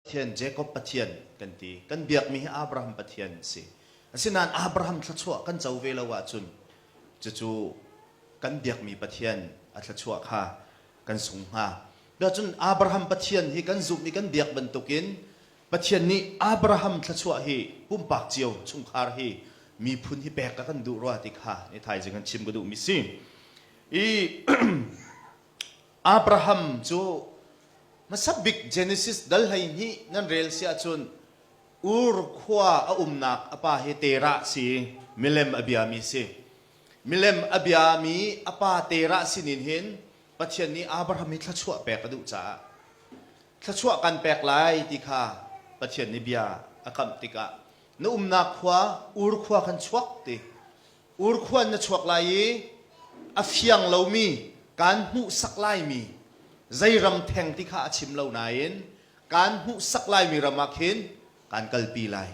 Pathian, Jacob Pathian, kan ti. Kan biakmi hi Abraham Pathian a si. Asinain Abraham thluachuah kan co ve lo ahcun cucu kan biakmi Pathian a thluachuah kha kan sung hnga. Cun Abraham Pathian hi kan zumh i kan biak bantukin Pathian nih Abraham thluachuah hi pumpak cio, chungkhar hi, miphun hi pek a kan duh rua ti kha ni thaizing an chim ka duhmi si. I Abraham cu hmasa bik Genesis dal hleihnih nan rel si ahcun Ur khua a umnak a pa hi Terah si i milem a biami si. Milem a biami a pa Terah sinin hin Pathian nih Abraham hi thluachuah pek a duh caah thluachuah kan pek lai ti kha Pathian nih bia a kamh tikah na umnak khua Ur khua khan chuak ti Urkhuan na chuak lai i a fiang lomi, kaan hmuhsak laimi zei ram theng ti kha a chim lo nain kaan hmuhsak laimi ram ah khin kaan kalpi lai.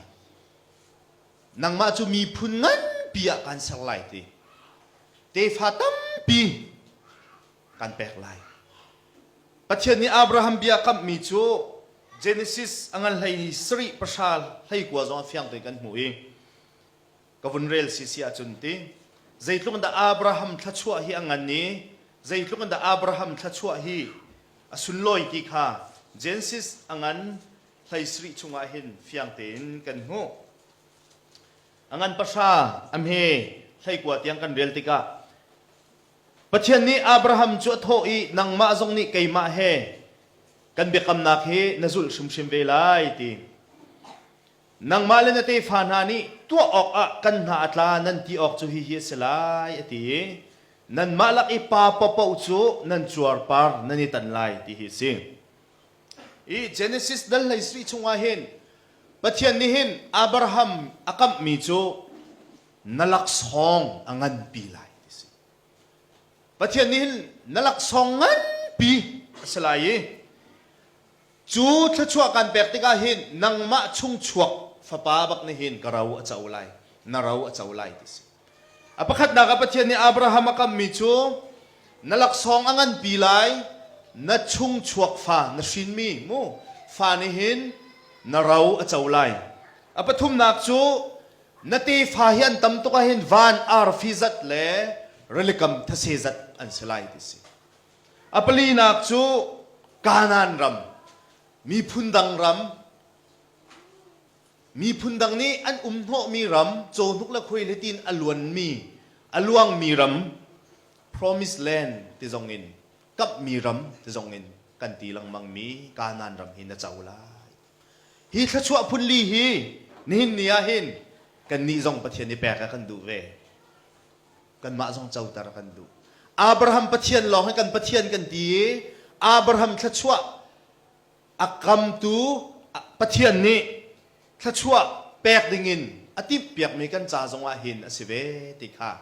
Nangmah cu miphun nganpi ah kaan ser lai ti tefa tampi kan pek lai. Pathian nih Abraham bia a kamhmi cu Genesis a ngan hlei ni sarih pahra hlei kua zong a fiang te kan hmuh i ka vun rel si si ahcun ti. Zeitluk in dah Abraham thluachuah hi a ngan i zeitluk in dah Abraham thluachuah hi a sunlawi ti kha Genesis a ngan hleisarih chungah hin fiang tein kan hmuh. A ngan pahra a hme hleikua tiang kan rel tikah Pathian nih Abraham cu a thawh i nangmah zong nih keimah he kan biakamnak hi na zulh hrimhrim ve lai ti. Nangmah le na tefa hna nih tuah awkah kan hna a tla nan ti awk cu hihi a si lai, a ti i nanmah lak i pa paohpaoh cu nan cuarpar nan i tan lai, ti hi a si. Hi Genesis dal hleisarih chungah hin Pathian nih hin Abraham a kamhmi cu na laksawng a nganpi lai, ti a si. Pathian nih hin na laksawng nganpi a si lai i Cu thluachuah kan pek tikah hin nangmah chung chuak fapa bak nih hin ka ro a co lai, na ro a co lai ti si. A pakhatnak ah Pathian nih Abraham a kammi cu na laksawng a nganpi lai, na chung chuak fa, na hrinmi mu fa nih hin na ro a co lai. A pathumnak cu na tefa hi an tam tuk ahhin van arfi zat le rilikam thase zat an si lai ti si. A palinak cu Kanaan ram, miphun dang ram, miphun dang nih an um hnawhmi ram, cawhnuk le khuailet in a luanmi, a luangmi ram, promised land ti zong in, kamhmi ram ti zong in kan ti lengmangmi Kanaan ram hi na co lai. Hi thluachuah phunli hi nihin ni ah hin kannih zong Pathian i pek a kan duh ve. kanmah zong coter kan duh. Abraham Pathian lawng hi kan Pathian kan ti i Abraham thluachuah a kamtu Pathian nih thluachuah pek dingin a timhpiakmi kan ca zongah hin a si ve ti kha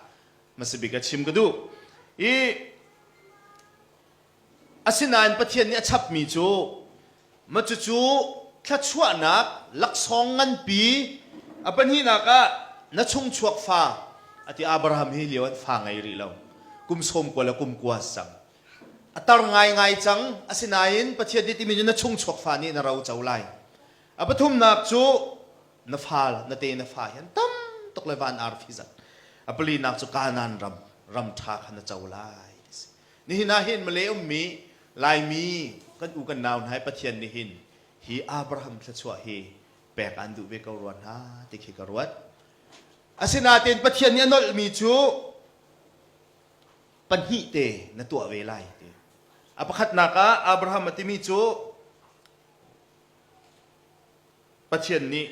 hmasabik a chim ka duh. I Asinain Pathian nih a chapmi cu mah cucu thluachuahnak laksawng nganpi a pahnihnak ah na chungchuak fa a ti. Abraham hi lio an fa ngei rih lo. Kum sawm kua le kum kua a si cang. A tar ngaingai cang. Asinain Pathian nih timi cu na chungchuak fa nih na roco lai. A pathumnak cu na fale, nate na fa hi an tam tuk le van arfi zat. A palinak cu Kanaan ram, ram ṭha kha na co lai. Nihin ah hin Malay ummi Laimi kan u kan nau hna i Pathian nih hin hi Abraham thluachuah hi pek aan duh ve ko rua hna ti khi ka ruat. Asinain Pathian nih a nolhmi cu pahnih te na tuah ve lai ti. A pakhatnak ah Abraham a timi cu Pathian nih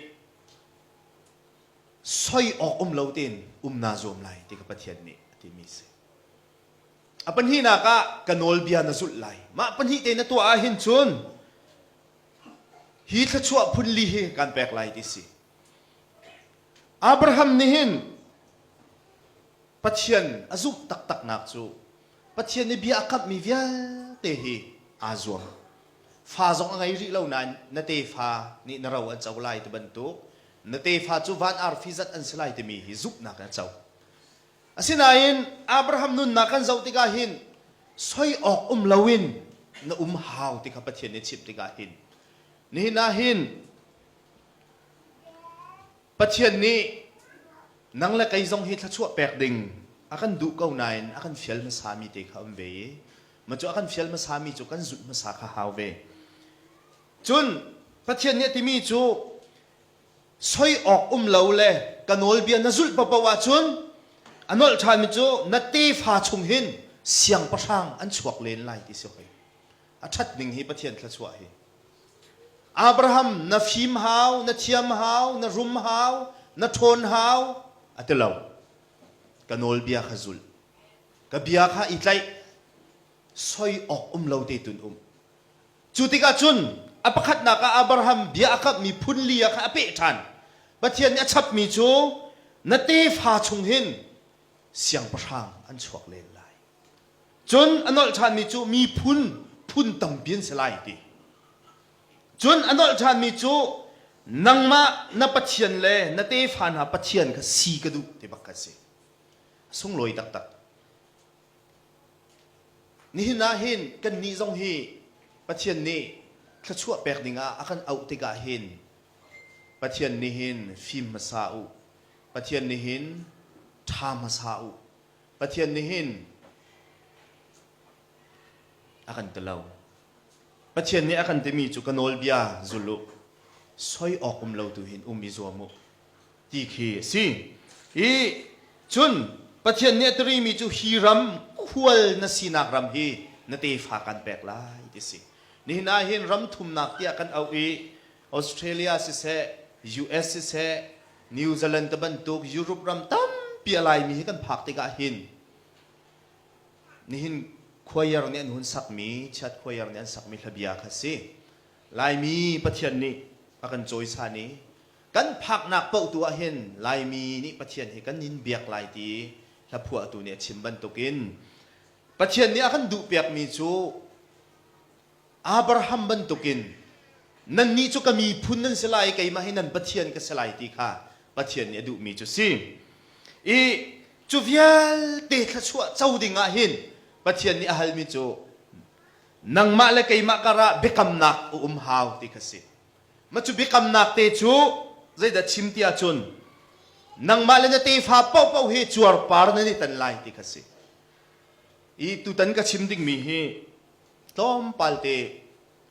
soi awk um lo tein um naa zuam lai ti kha Pathian nih a timi si. A pahnihnak ah ka nawlbia na zulh lai. Mah pahnih te na tuah ahhin cun hi thluachuah phun li hi kan pek lai ti si. Abraham nih hin Pathian a zumh taktaknak cu Pathian nih bia a kamhmi vialte hi aa zuam. Fa zong a ngei rih lo nain na tefa nih na ro an co lai ti bantuk na tefa cu van arfi zat an si lai timi hi zumhnak in a co. Asinain Abraham nunnak kan zoh tikah hin soi awk um loin na um hau ti kha Pathian nih chimh tikah hin nihin ah hin Pathian nih nang le kei zong hi thluachuah pek ding a kan duh ko nain a kan fial hmasami te kha um ve i mah cu a kan fial hmasami cu kan zulh hmasa kha hau ve. Cun Pathian nih a timi cu soi awk um lo le ka nawlbia na zulh paoh ahcun a nolh ṭhanmi cu na tefa chung hin siangpahrang an chuak len lai ti si hoi a ṭhat ning hi Pathian thluachuah hi Abraham na fim hau na thiam hau na rum hau na ṭhawn hau a ti lo ka nawlbia kha zulh ka bia kha i tlaih soi awk um lo te tun um Cu tikah cun a pakhatnak ah Abraham bia a kamhmi phun li-ah khan a peh ṭhan. Pathian nih a chapmi cu na tefa chung hin siangpahrang an chuak len lai. Cun a nolh ṭhanmi cu miphun phun tampi an si lai, a ti. Cun a nolh ṭhanmi cu nangmah na pathian le na tefa hna pathian kha si ka duh ti bak kha a si. A sunglawi taktak. Nihin ah hin kannih zong hi Pathian nih thluachuah pek dingah a kan auh tikah hin Pathian nih hin fim hmasa u. Pathian nih hin ṭha hmasa u. Pathian nih hin a kan ti lo. Pathian nih a kan timi cu ka nawlbia zul u. Soi awk um lo tu hin um i zuam u. ti khi a si. I cun Pathian nih a tirimi cu hi ram khual na sinak ram hi na tefa kan pek lai ti a si. Nihin ah hin ram thumnak tiah kan auh i Australia siseh, US siseh, New Zealand tibantuk Europe ram tampi a laimi hi kan phak tikah hin nihin choir nih an hun sakmi, chiat choir nih an sakmi hlabia kha a si. Laimi Pathian nih a kan cawisan i Kan phaknak paoh tu ah hin Laimi nih Pathian hi kan in biak lai ti hlaphuahtu nih a chim bantukin Pathian nih a kan duhpiakmi cu Abraham bantukin nannih cu ka miphun nan si lai i keimah hi nan Pathian ka si lai ti kha Pathian nih a duhmi cu si i cu vialte thluachuah co dingah hin Pathian nih a halmi cu nangmah le keimah karah biakamnak a um hau ti kha si. Mah cu biakamnak te cu zeidah chim ti ahcun nangmah le na tefa paohpaoh hi cuarpar nan i tan lai ti kha si. I tutan ka chim dingmi hi tlawmpal te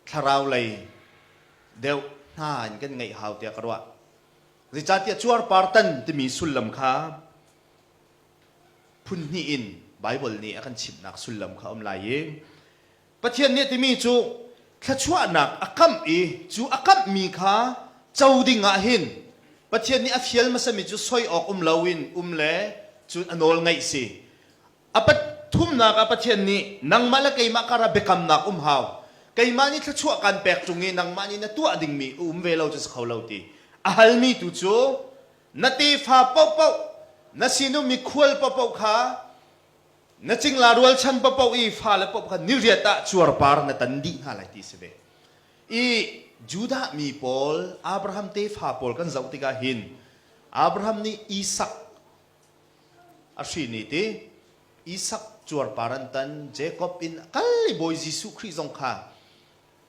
thlarau lei deuh hna in kan ngeih hau tiah ka ruah. Zeicahtiah cuarpar tan timi sullam kha phun hnih in Baibal nih a kan chimhnak sullam kha a um lai i Pathian nih a timi cu thluachuahnak a kamh i cu a kamhmi kha co dingah hin Pathian nih a fial hmasami cu soi awk um loin um le cun a nawl ngaih si. A pathumnak ah Pathian nih nangmah le keimah karah biakamnak um hau. Keimah nih thluachuah kaan pek chung i nangmah nih na tuah dingmi a um ve lo cu si kho lo ti. A halmi tu cu na tefa paohpaoh, na sinum mikhual paohpaoh kha Na cingla rualchan papoh i fale paoh kha niriat ah cuarpar na tan dih hna lai ti si ve. I Judah mi pawl, Abraham tefa pawl kan zoh tikah hin Abraham nih Isak a hrin i ti Isak cuarpar an tan, Jacob in kal i Bawi Jesuh Khrih zong kha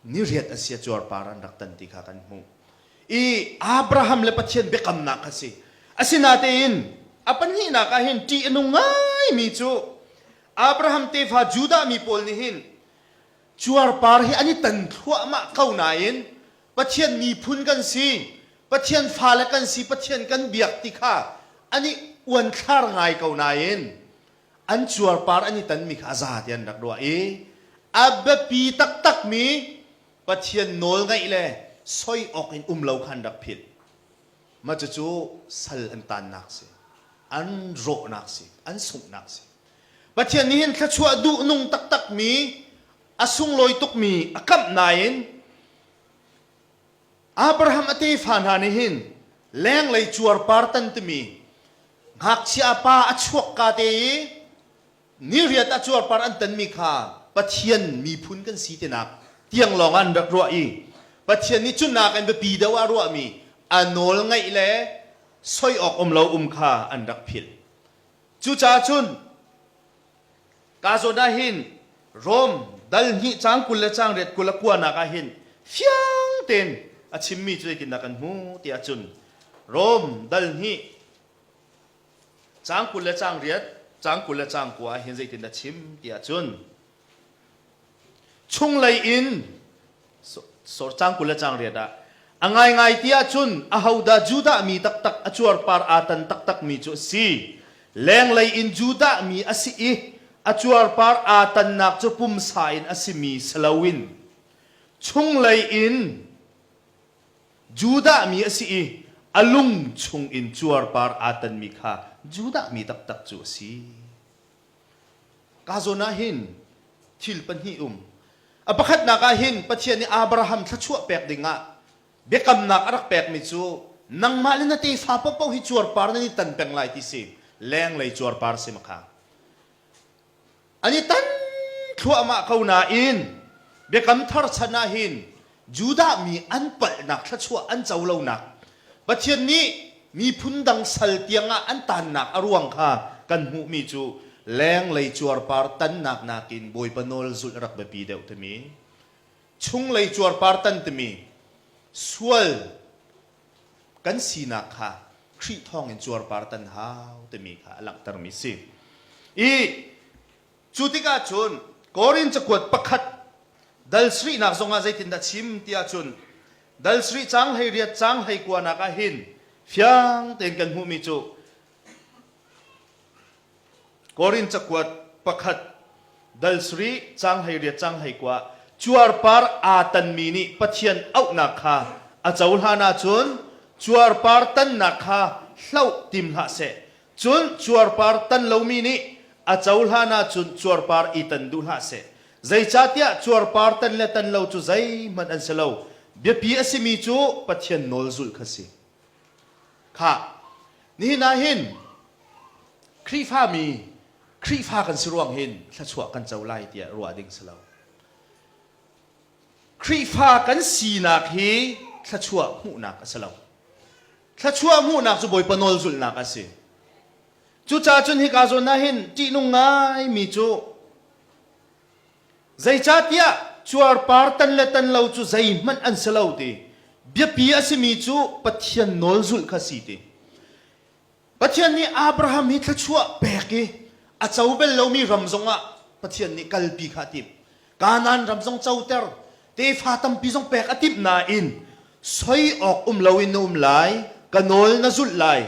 niriat a si cuarpar an rak tan ti kha kan hmuh i Abraham le Pathian biakamnak kha si asinatein a pahnihnak ah hin ṭih a nung ngaimi cu Abraham tefa Judah mi pawl nih hin cuarpar hi an i tan thluahmah ko nain Pathian miphun kan si Pathian fale kan si Pathian kan biak ti kha an i uanthlar ngai ko nain an cuarpar an i tanmi kha a za tiah an rak ruah i a biapi taktakmi Pathian nawl ngaih le soi awk in um lo kha an rak philh. Mah cucu sal an taannak a si, an rawhnak a si, an sunghnak a si. Pathian nih hin thluachuah duhnung taktakmi, a sunglawi tukmi a kamh nain Abraham a tefa hna nih hin lenglei cuarpar tan timi ngakchia pa a chuak ka te i ni riat ah cuarpar an tanmi kha Pathian miphun kan si tinak tiang lawngah an rak ruah i Pathian nih cun nakin biapi deuh ah ruahmi a nawl ngaih le soi awk um lo um kha an rak philh. Cucaah cun Kazawn ah hin Rome dal hnih cang kul le cang riat kul a kuanak ah hin fiang tein a chimmi cu zeitindah kan hmuh tiah cun Rome dal hnih cang kul le cang riat cang kul le cang kua ah hin zeitindah chim tiah cun chunglei in sorcang kul le riat ah a ngaingai ti ahcun ahodah Judah mi taktak a cuarpar aa tan taktak mi cu a si lenglei in Judah mi a si i a cuarpar aa tannak cu pumsa in a simi si loin chunglei in Judah mi a si i a lung chung in cuarpar aa tanmi kha Judah mi taktak cu a si. Ka zawn ah hin thil pahnih um. A pakhatnak ah hin Pathian nih Abraham thluachuah pek dingah biakamnak a rak pekmi cu nangmah le na tefa paoh hi cuarpar nan i tan peng lai ti si lenglei cuarpar si makha an i tan thluahmah ko nain biakam thar chan ah hin Judah mi an palhnak thluachuah an co lonak, Pathian nih miphun dang sal tiangah an tannak a ruang kha kan hmuhmi cu lenglei cuarpar tannak nakin Bawipa nawl zulh a rak biapi deuh timi, chunglei cuarpar tan timi sual kan sinak kha Khrih thawngin cuarpar tan hau timi kha a langhtermi si. I Cu tikah cun Korin cakuat pakhat dal sarihnak zongah zeitindah chim tiah cun dal sarih caang hlei riat caang hlei kuanak ah hin fiang tein kan hmuhmi cu Korin cakuat pakhat dal sarih caang hlei riat caang hlei kua cuarpar aa tanmi nih Pathian auhnak kha a cohlan ahcun cuarpar tannak kha hloh tim hlah seh. Cun cuarpar tan lomi nih a cohlan ahcun cuarpar i tan duh hlah seh. Zeicahtiah cuarpar tan le tan lo cu zeihmanh an si lo, biapi a simi cu Pathian nawl zulh kha si. Khah, nihin ah hin Khrihfami Khrihfa kan si ruang hin thluachuah kan co lai tiah ruah ding si lo. Khrihfa kan sinak hi thluachuah hmuhnak a si lo. Thluachuah hmuhnak cu Bawipa nawl zulhnak a si. Cucaah cun hika zawn ah hin ṭihnung ngaimi cu zeicahtiah cuarpar tan le tan lo cu zeihmanh an si lo ti biapi a simi cu Pathian nawl zulh kha si ti. Pathian nih Abraham hi thluachuah pek i a co bel lomi ram zongah Pathian nih kalpi kha a tim. Kanan ram zong coter tefa tampi zong pek a timh nain soi awk um loin na um lai ka nawl na zulh lai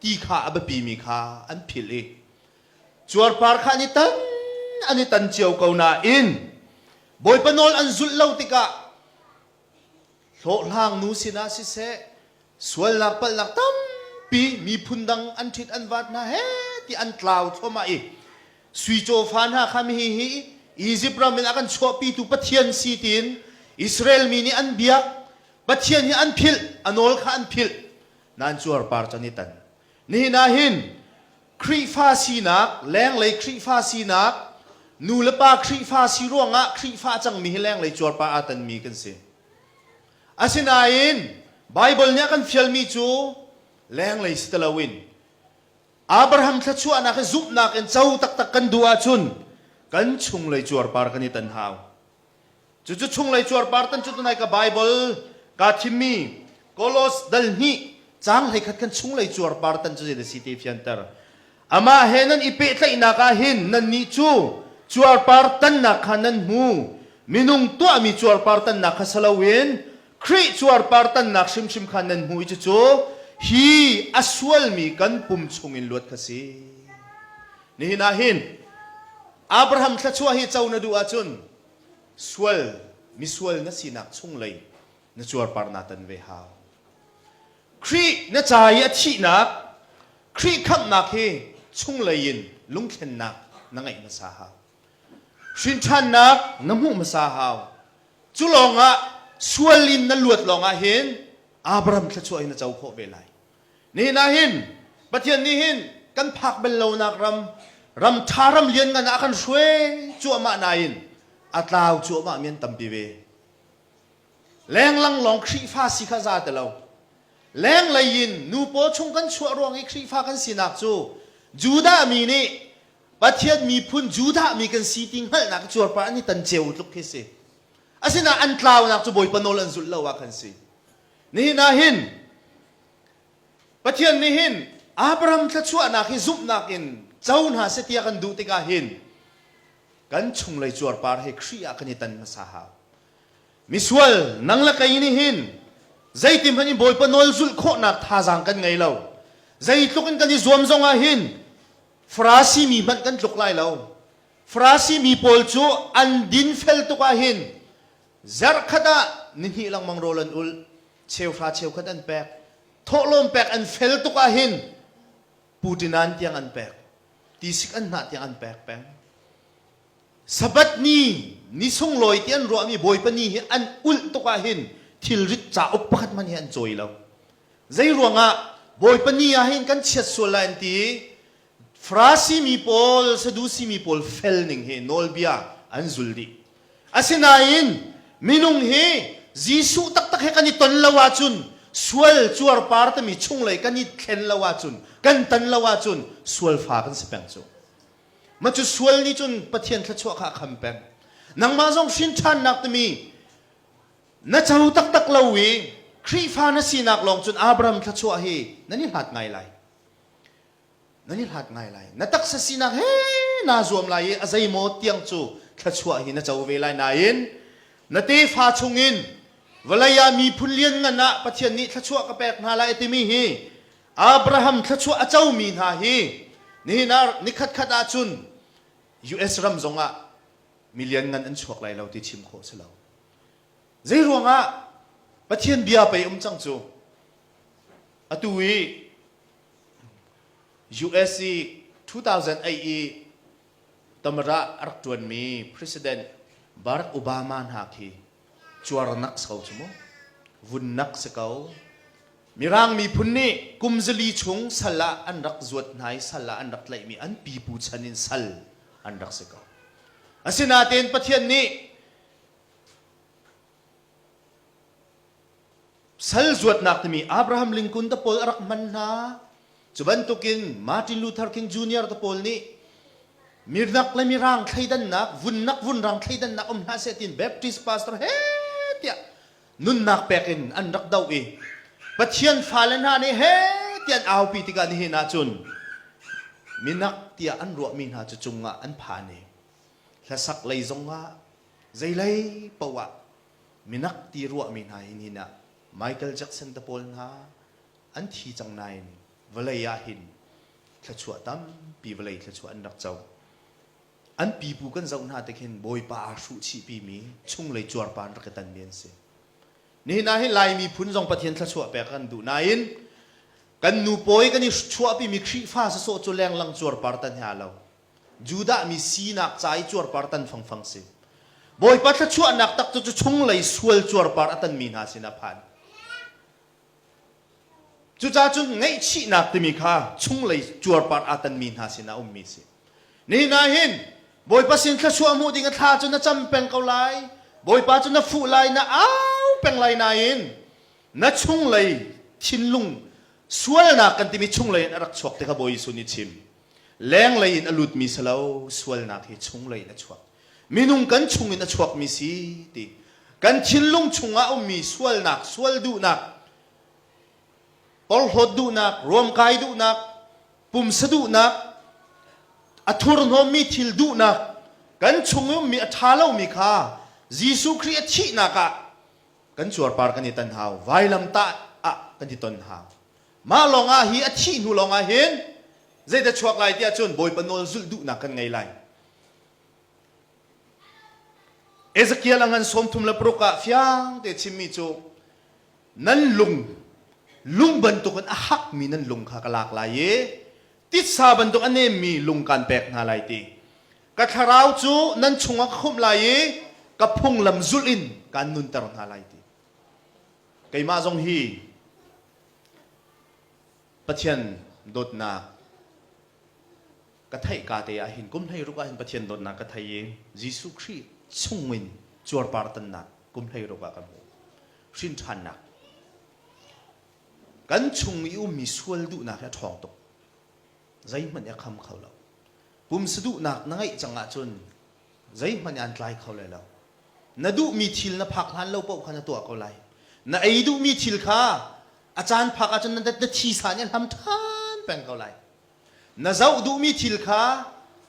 ti kha a biapimi kha an philh i cuarpar kha an i tan an i tan cio ko nain bawipa nawl an zulh lo tikah hlawhhlangnu sinah siseh sualnak palhnak tampi miphun dang an ṭhit an vaat hna he ti an tlau thluahmah i suicaw fa hna kha hi hi Izipt ram in a kan chuahpitu Pathian si tiin Israel mi nih an biak Pathian hi an philh a nawl kha an philh nan cuar par can i tan Nihin ah hin Khrihfa sinak, Lenglei Khrihfa sinak, nu le pa Khrihfa si ruangah Khrihfa cangmi hi lenglei cuarpah aa tanmi kan si. Asinain Baibal nih a kan fialmi cu lenglei si ti loin Abraham thluachuahnak hi zumhnak in co taktak kan duh ahcun kan chunglei cuarpar kan i tan hau. Cucu chunglei cuarpar tan cu tunai ka Baibal kaa thimmi Kolos dal hnih cang hleikhat khan chunglei cuarpar tan cu zeidah si te fianter. Amah he nan i pehtlaihnak ah hin nannih cu cuarpar tannak kha nan hmu. Minung tuahmi cuarpar tannak kha si loin Khrih cuarpar tannak hrimhrim kha nan hmu i cucu hi a sualmi kan pum chungin luat kha si. Nihin ah hin Abraham thluachuah hi co na duh ahcun sual misual na sinak chunglei na cuarparnak tan ve hau. Khrih na ca i a thihnak, Khrih khamhnak hi chunglei in lungthlennak na ngeih hmasa hau. Hrinṭhannak na hmuh hmasa hau. Cu lawngah sual in na luat lawngah hin Abraham thluachuah hi na co khawh ve lai. Nihin ah hin Pathian nih hin kan phak bal lonak ram, ram ṭha ram lianngan ah a kan hruai cuahmah nain a tlau cuahmah mi an tampi ve. Lenglang lawng Khrihfa si kha za ti lo. Lenglei in nu paw chung kan chuah ruang i Khrihfa kan sinak cu Judah mi nih Pathian miphun Judah mi kan si ti hngalhnak cuarpar an i tan ceu tluk khi si. Asinain an tlaunak cu Bawipa nawl an zulh lo ah khan si. Nihin ah hin Pathian nih hin Abraham thluachuahnak hi zumhnak in co hna seh tiah kan duh tikah hin kan chunglei cuarpar hi Khrih ah kan i tan hmasa hau. Misual nang le kei nih hin zeitin hmanh in Bawipa nawl zulh khawhnak thazaang kan ngei lo. Zeitluk in kan i zuam zong ah hin Farasi mi hmanh kan tluk lai lo. Farasi mi pawl cu an dinfel tuk ah hin Zarh khat ah nihnih lengmang rawl an ulh, cheuhra cheukhat an pek, thawhlawm pek an fel tuk ahhin Pu Ṭinan tiang an pek, tisik an hnah tiang an pek peng. Sabbath ni, ni sunglawi ti an ruahmi Bawipa ni hi an ulh tuk ahhin thilrit cauk pakhat hmanh hi an cawi lo. Zei ruangah Bawipa ni ahhin kan chiat sual lai an ti i Farasi mi pawl, Sadusi mi pawl fel ning hi nawlbia an zul dih. Asinain minung hi Jesuh taktak he kan i ton lo ahcun, sual cuarpar timi chunglei kan i thlen lo ahcun, kan tan lo ahcun sualfa kan si peng cu. Mah cu sual nih cun Pathian thluachuah kha a kham peng. Nangmah zong hrinṭhannak timi na co taktak lo i Khrihfa na sinak lawng cun Abraham thluachuah hi nan i hlat ngai lai. nan i hlat ngai lai na taksa sinak he naa zuam lai i a zei maw tiang cu thluachuah hi na co ve lai nain na tefa chungin vawlei ah miphun lianngan ah Pathian nih thluachuah ka pek hna lai timi hi Abraham thluachuah a comi hna hi nihin ah nikhatkhat ah cun US ram zong ah milian ngan an chuak lai lo ti chim khawh si lo zei ruangah Pathian bia pei um cang cu atu i US i 2008 i tamar ah a rak ṭuanmi President Barack Obama hna khi cuarnak so cu mu vunnak si ko Mirang miphun nih kum zali chung sal ah an rak zuat hna i sal ah an rak tlaihmi an pipu chan in sal an rak si ko asinain Pathian nih Sal zuatnak timi Abraham Lincoln te pawl a rak hman hna. Cu bantukin Martin Luther King Jr. te pawl nih mirnak le mirang thleidannak, vunnak vunrang thleidannak um hna seh tiin Baptist pastor he tiah nunnak pek in an rak doh i Pathian fale hna nih he ti an aupi tikah nihin ah cun minak tiah an ruahmi hna cu cungah an phan i hlasak lei zongah Zeilei poah minak ti ruahmi hna hi nihin ah Michael Jackson te pawl hna an thi cang nain vawlei ahhin thluachuah tampi vawlei thluachuah an rak co. An pipu kan zoh hna tikhin Bawipa aa hruhchihpimi chunglei cuarpa in rak i tanmi an si. Nihin ah hin Lai miphun zong Pathian thluachuah pek kan duh nain kan nu pawi kan i chuahpimi Khrihfa sawsawh cu lenglang cuarpar ta hna lo Judah mi sinak ca i cuarpar tan fangfang si. Bawipa thluachuahnak tak cu cu chunglei sual cuarpar a tanmi hna sinah a phan. Cucaah cun ngaihchihnak timi kha chunglei cuarpar aa tanmi hna sinah a ummi a si. Nihin ah hin Bawipa sin thluachuah hmuh ding a thla cu na cam peng ko lai. Bawipa cu na fuh lai, na au peng lai nain na chunglei thinlung sualnak kan timi chunglei in a rak chuak ti kha Bawi Jesuh nih a chim. lenglei in a lutmi si lo sualnak hi chunglei in a chuak minung kan chungin a chuakmi si ti kan thinlung chungah a ummi sualnak sual duhnak porhlawt duhnak ruamkai duhnak pumsa duhnak a thurhnawmmi thil duhnak kan chung i ummi a ṭha lomi kha Jesuh Khrih a thihnak ah kan cuarpar kan i tan hau vailam tah ah kan i ton hau Mah lawngah hi a thih hnu lawngah hin zeidah chuak lai tiah cun Bawipa nawl zulh duhnak kan ngei lai. Ezekiel a ngan sawmthum le paruk ah fiang te chimmi cu nan lung lung bantuk in a hakmi nan lung kha ka lak lai i titsa bantuk a nemmi lung kaan pek hna lai ti ka thlarau cu nan chungah ka khumh lai i ka phunglam zulh in kaan nunter hna lai ti keimah zong hi Pathian dawtnak ka theih ka te ah hin kum hleiruk ah hin Pathian dawtnak ka thei i Jesuh Khrih chungin cuarpartannak kum hleiruk ah kan hmu hrinṭhannak kan chung i ummi sual duhnak hi a ṭhawng tuk zeihmanh a kham kho lo pumsa duhnak na ngeih cang ahcun zeihmanh ah an tlai kho lai lo. Na duhmi thil na phak hlan lo paoh kha na tuah ko lai. Na ei duhmi thil kha a caan phak ahcun na thisa nih a hlam ṭhan peng ko lai. Na zoh duhmi thil kha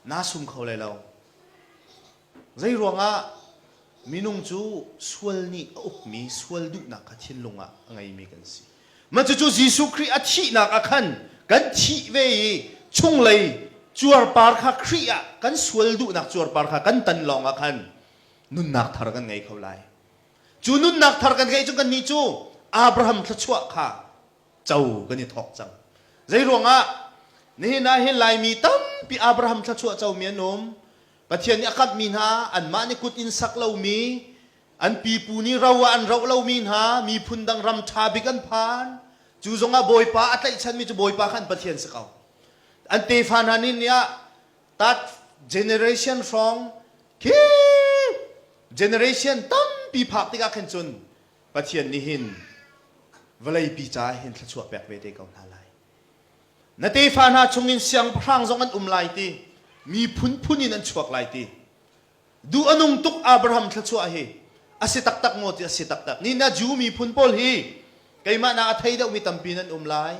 naa sum kho lai lo. Zeiruangah minung cu sual nih a ukmi sual duhnak kha thinlung ah a ngeimi kan si. Mah cucu Jesuh Khrih a thihnak ah khan kan thih ve i chunglei cuarpar kha Khrih ah kan sual duhnak cuarpar kha kan tan lawngah khan nunnak thar kan ngei kho lai. Cu nunnak thar kan ngeih cu kannih cu Abraham thluachuah kha co kan i thawk cang. Zeiruangah? Nihin ah hi Laimi tampi Abraham thluachuah comi an um. Pathian nih a kamhmi hna anmah nih kut in sak lomi An pipu nih ro ah an roh lomi hna miphun dang ram ṭha bik an phan. Cu zongah Bawipa a tlaihchanmi cu Bawipa kha an Pathian si ko. An tefa hna nih ni ah tat generation hrawng khi generation tampi phak tikah khin cun Pathian nih hin vawleipi caah hin thluachuah pek ve te ko hna lai. Na tefa hna chungin siangpahrang zong an um lai ti, miphun phun in an chuak lai ti, Duh a nung tuk Abraham thluachuah hi a si taktak maw ti a si taktak. Nihin ah Jew miphun pawl hi keimah na a thei deuhmi tampi nan um lai.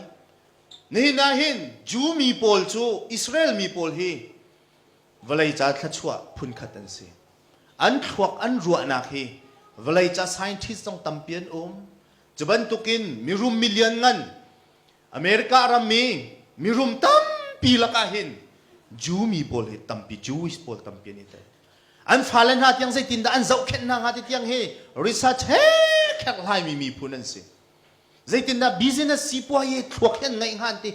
Nihin ahhin Jew mi pawl cu Israel mi pawl hi vawlei ca thluachuah phunkhat an si. An thluak an ruahnak hi vawlei ca scientist zong tampi an um. Cu bantukin mirum milian ngan America rammi mirum tampi lakah hin Jew mi pawl hi tampi Jewish pawl tampi an i tel. An fale hna tiang zeitindah an zohkhenh hna hnga ti tiang hi research he kherhlaimi miphun an si. Zeitindah business sipuazi thluak hi an ngeih hnga an ti.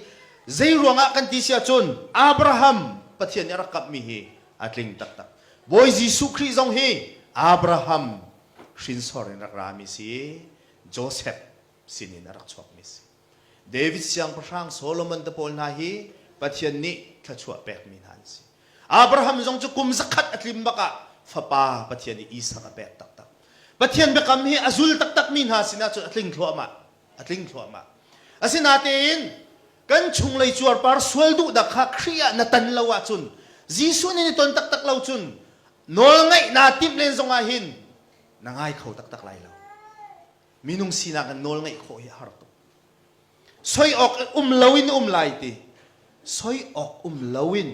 Zeiruangah kan ti si ahcun Abraham Pathian nih a rak kamhmi hi a tling taktak. Bawi Jesuh Khrih zong hi Abraham hrinsor in rak rami si. Joseph sinin a rak chuakmi a si. David Siangpahrang Solomon te pawl hna hi Pathian nih thluachuah pekmi hna an si. Abraham zong cu kum zakhat a tlim bak ah fapa Pathian nih Isak a pek taktak. Pathian biakam hi a zul taktakmi hna sinah cun a tling thluahmah, a tling thluahmah. Asinatein kan chunglei cuarpar sual duhdak kha Khrih ah na tan lo ahcun Jesuh nih ni ton taktak lo cun nawlngaih naa timh len zongah hin na ngai kho taktak lai lo. minung sinak in nawl ngeih khawh hi a har tuk soi awk um loin um lai ti soi awk um loin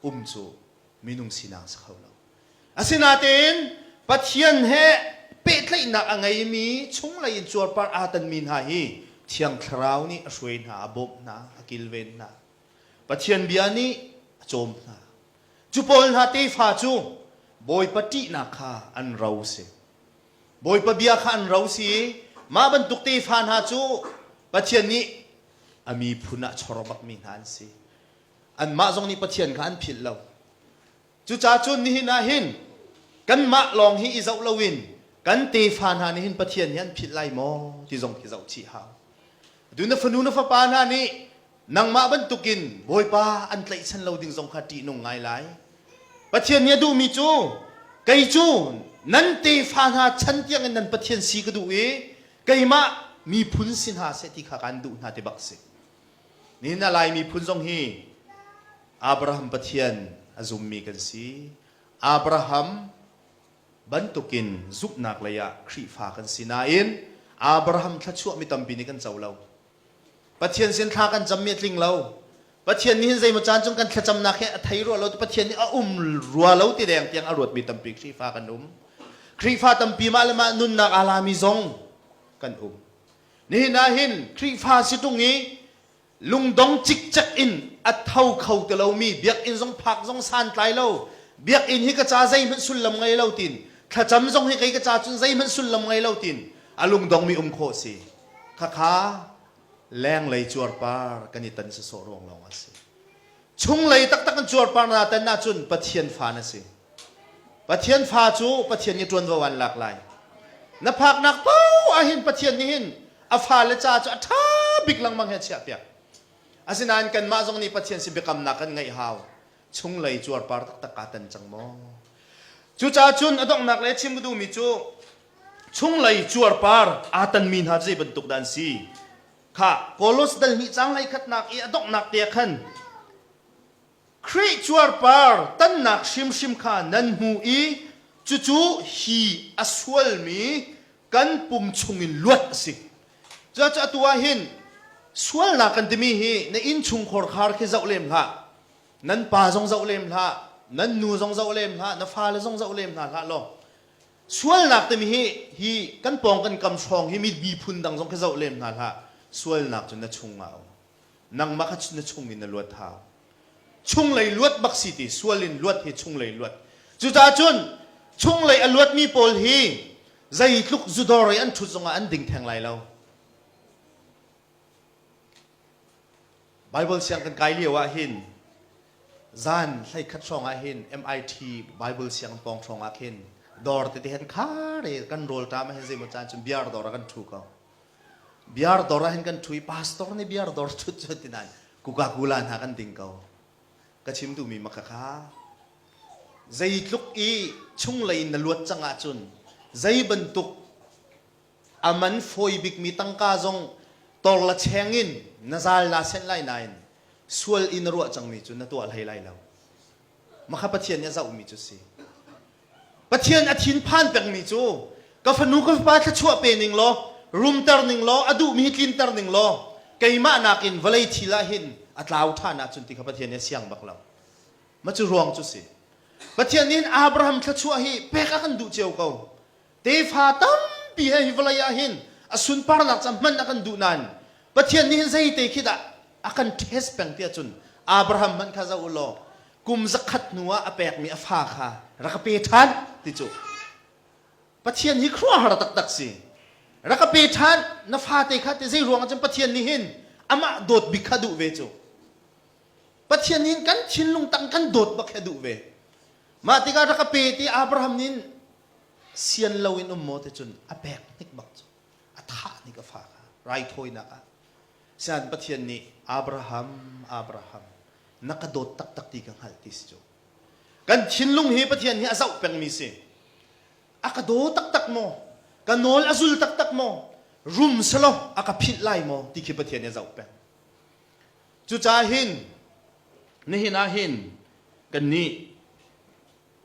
um cu minung sinak si kho lo asinain pathian he pehtlaihnak a ngeimi chunglei in cuarpar aa tanmi hna hi thiang thlarau nih a hruai hna a bawmh hna a kilven hna pathian bia nih a cawm hna cu pawl hna tefa cu bawipa ṭihnak kha an ro si Bawipa bia kha an ro si i mah bantuk tefa hna cu Pathian nih a miphun ah chawro bakmi hna an si. Anmah zong nih Pathian kha an philh lo. Cucaah cun nihin ah hin kanmah lawng hi i zoh loin kan tefa hna nih hin Pathian hi an philh lai maw ti zong khi zoh chih hau. Atu na fanu na fapa hna nih Nangmah bantukin Bawipa an tlaihchan lo ding zong kha ṭihnung ngai lai. Pathian nih a duhmi cu kei cu nan tefa hna chan tiangin nan Pathian si ka duh i keimah miphun si hna seh ti kha kaan duh hna ti bak a si. Nihin a Lai miphun zong hi Abraham Pathian a zummi kan si. Abraham bantukin zumhnak lei ah Khrihfa kan si nain Abraham thluachuah mi tampi nih kan co lo. Pathian sin thla kan cam mi a tling lo. Pathian nih hin zeimaw caan cung kan thlacamnak hi a thei rua lo. Pathian nih a um rua lo ti deng tiang a ruat mi tampi Khrihfa kan um. Khrihfa tampi mah le mah nunnak aa la mi zong kan um. Nihin ah hin Khrihfa si ṭung i lungdong cikcek in a tho kho ti lo mi biakinn zong phak zong santlai lo. Biakinn hi ka ca zeihmanh sullam ngei lo tin thlacam zong hi kei ka ca cun zeihmanh sullam ngei lo tin a lungdong mi um khawh si. Thakha lenglei cuarpar kan i tan sawsawh ruang lawng a si. Chunglei taktak kan cuarpar na tan ahcun Pathian fa na si. Pathian fa cu Pathian i ṭuanvo an lak lai. Na phaknak paoh ahhin Pathian nih hin a fale caah cu a ṭha bik lengmang hi a chiahpiak. Asinain kanmah zong nih Pathian sin biakamnak kan ngeih hau. Chunglei cuarpar taktak kaa tan cang maw? Cucaah cun a donghnak le a chim a duhmi cu chunglei cuarpar aa tanmi hna zei bantuk dah an si? Kha Koloss delhmi caang hleikhatnak i a donghnak te ah khan Khrih cuarpar tannak hrimhrim kha nan hmu i cucu hi a sualmi kan pum chungin luat a si. Cucu atu ah hin sualnak kan timi hi na innchungkhar khar khi zoh lem hlah. Nan pa zong zoh lem hlah, nan nu zong zoh lem hlah, na fale zong zoh lem hna hlah law Sualnak timi hi hi kan pawng kan kam hrawng hi miphun dang zong khi zoh lem hna hlah, sualnak cu na chungah a um. Nangmah kha na chung in na luat hau. Chunglei luat bak si ti sual in luat hi chunglei luat. Cucaah cun chunglei a luatmi pawl hi zeitluk zudawr i an ṭhut zongah an ding theng lai lo. Bible siang kan kai lio ah hin zan hleikhat hrawng ah hin MIT Bible siang pawng hrawng ah khin dawr tete hen khare kan rawl ta ma hen zeimaw caan cun biar dawr ah kan thu ko biar dawr ah hin kan thu i pastor nih biar dawr thut cu tinan kuka kula hna kan ding ko ka chim tu mi maka kha zeitluk i chunglei na luat cang ahcun zei bantuk a man fawi bikmi tangka zong tor la cheng in na zal naa senh lai nain sual in na ruah cangmi cu na tuah hlei lai lo makha pathian nih a zohmi cu si pathian a thinphan pekmi cu ka fanu ka fapa thluachuah pe ning law rumter ning law a duhmi tlinter ning law keimah nakin vawlei thil ah hin a tlau ṭhan ahcun ti kha pathian nih a siang bak lo ma cu ruang cu si pathian nih Abraham thluachuah hi pek a kan duh cio ko Tefa tampi he hi vawlei ah hin a sunparnak ca hmanh a kan duh nain Pathian nih hin zeite khi dah a kan test peng tiah cun Abraham hmanh kha zoh u law kum zakhat hnuah a pekmi a fa kha rak ka pe ṭhan ti cu Pathian hi khuaruahhar taktak si. Rak ka pe ṭhan na fate kha ti zei ruangah cun Pathian nih hin amah dawt bik kha duh ve cu. Pathian nih hin kan thinlung tang kan dawt bak hi a duh ve. Mah tikah rak ka pe ti Abraham nih sian loin um maw ti cun a pek hnik bak cu a thah hnik a fa kha raithawinak ah sian Pathian nih Abraham Abraham na ka dawt taktak ti ka hngalh ti si cu kan thinlung hi Pathian hi a zoh pengmi si a ka daw taktak maw ka nawl a zul taktak maw rum selaw a ka philh lai maw ti khi Pathian hi a zoh peng cucaah hin nihin ah hin kan nih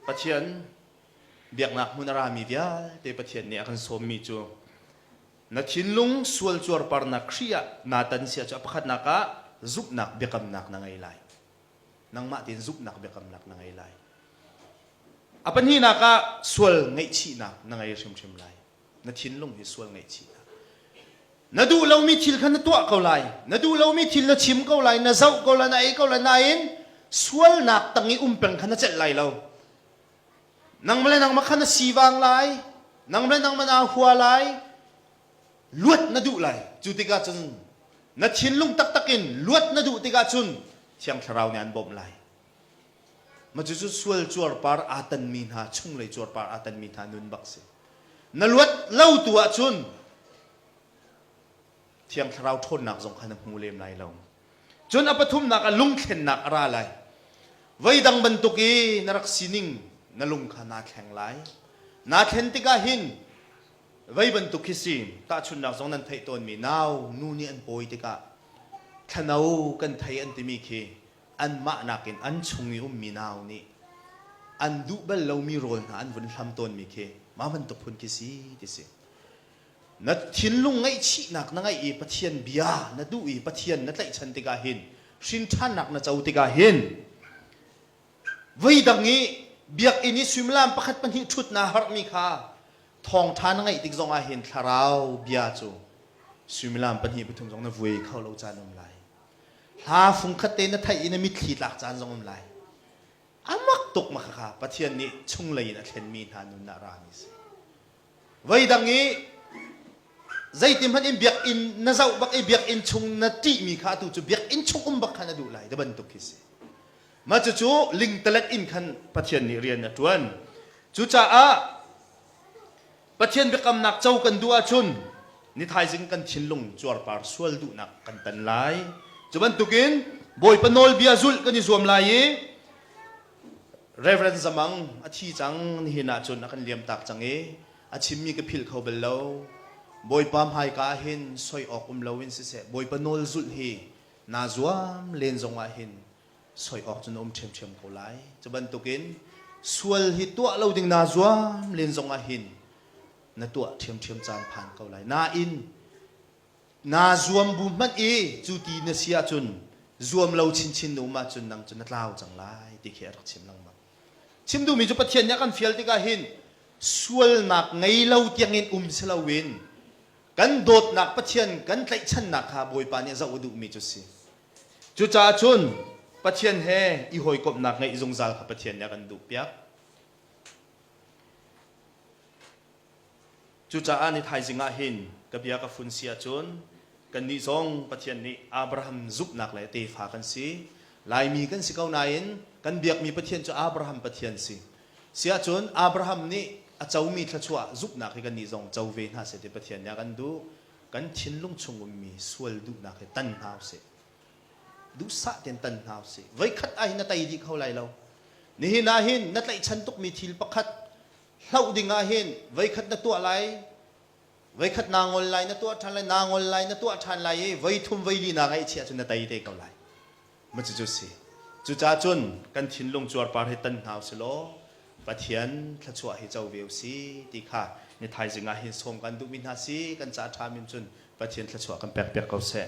Pathian biaknak hmun a rami vialte Pathian nih a kan sawmmi cu na thinlung sualcuar parnak Khrih ah naa tan sia cu a pakhatnak ah zumhnak biakamnak na ngei lai. Nangmah tein zumhnak biakamnak na ngei lai. A pahnihnak ah sual ngaihchihnak na ngei hrimhrim lai. na thinlung hi sual ngaihchih hna. Na duh lomi thil kha na tuah ko lai, na duh lomi thil na chim ko lai, na zoh ko lai, na ei ko lai, nain sualnak tang i um peng kha na celh lai lo. Nang le nangmah kha na sivang lai, nang le nangmah naa hua lai, luat na duh lai. Cu tikah cun na thinlung taktak in luat na duh tikah cun Thiang Thlarau nih an bawmh lai. Cucu sual cuarpar aa tanmi hna, chunglei cuarpar aa tanmi hna nun bak si. Na luat lo tu ahcun Thiang Thlarau ṭhawnnak zong kha na hmu lem lai lo. Cun a pathumnak ah lungthlennak a ra lai. Voi dang bantuk i na rak sining na lung kha naa thleng lai. Naa thlen tikah hin voi bantuk khi si, tahchunhnak zong nan theih tawnmi nau, nu nih an pawi tikah, thlano kan thei an timi khi anmah nakin an chung i ummi nau nih an duh bal lomi rawl hna an vun hlam tawnmi khi mah bantuk phun khi si ti si. Na thinlung ngaihchihnak na ngeih i Pathian bia na duh i Pathian na tlaihchan tikah hin hrinṭhannak na co tikah hin voidang i biakinn i suimilam pakhat pahnih ṭhut naa harhmi kha thawngṭha na ngaih tik zongah hin thlarau bia cu suimilam pahnih pathum zong na vuai kho lo caan um lai. Hla fungkhat te na theih i na mitthli tlak caan zong um lai. A mak tuk ma khakha Pathian nih chunglei in a thlenmi hna nun ah rami si. Voidang i zeitin hmanh in biakinn na zoh bak i biakinn chung na ṭihmi kha atu cu biakinn chung um bak khan a duh lai ti bantuk khi si. Mah cucu lingtalet in khan Pathian nih rian a ṭuan. Cucaah Pathian biakamnak co kan duh ahcun ni thaizing kan thinlung cuarpar sual duhnak kan tan lai. Cu bantukin Bawipa nawlbia zulh kan i zuam lai i Reverend Zamang a thi cang nihin ahcun a kan liamtak cang i a chimmi ka philh kho bal lo. Bawipa hmaika ah hin soi awk um loin siseh Bawipa nawl zulh hi naa zuam len zongah hin soi awk cun a um ṭhiamṭhiam ko lai. Cu bantukin sual hi tuah lo ding naa zuam len zong ahhin na tuah ṭhiamṭhiam caan phan ko lai. Nain, naa zuam bu hmanh i cu ti na si ahcun zuam lo chinchin na um ahcun nang cu na tlau cang lai ti khi a rak chim lengmang. Chim duhmi cu Pathian nih a kan fial tikah hin sualnak ngei lo tiangin um si loin kan dawtnak Pathian kan tlaihchannak kha Bawipa nih a zoh a duhmi cu si. Cucaah cun Pathian he i hawikomhnak ngeih zungzal kha Pathian nih a kan duhpiak. Cucaah ni thaizing ah hin ka bia ka fun si ahcun kannih zong Pathian nih Abraham zumhnak le tefa kan si. Laimi kan si ko nain kan biakmi Pathian cu Abraham Pathian si. Si ahcun Abraham nih a comi thluachuah zumhnak hi kannih zong co ve hna seh ti Pathian nih a kan duh. kan thinlung chung ummi sual duhnak hi tan hna usih. Duhsah tein tan hna usih. Voikhat ah hin na tei dih kho lai lo. Nihin ah hin na tlaihchan tukmi thil pakhat hloh ding ah hin voikhat na tuah lai, voikhat naa ngol lai, na tuah ṭhan lai, naa ngol lai, na tuah ṭhan lai i voi thum voi li naa ngaih chiah cun na tei te ko lai. Cucu si. Cucaah cun kan thinlung cuarpar hi tan hna usih law Pathian thluachuah hi co ve usih ti kha ni thaizing ah hin sawm kan duhmi hna si kan ca ṭham in cun Pathian thluachuah kan pekpiak ko seh.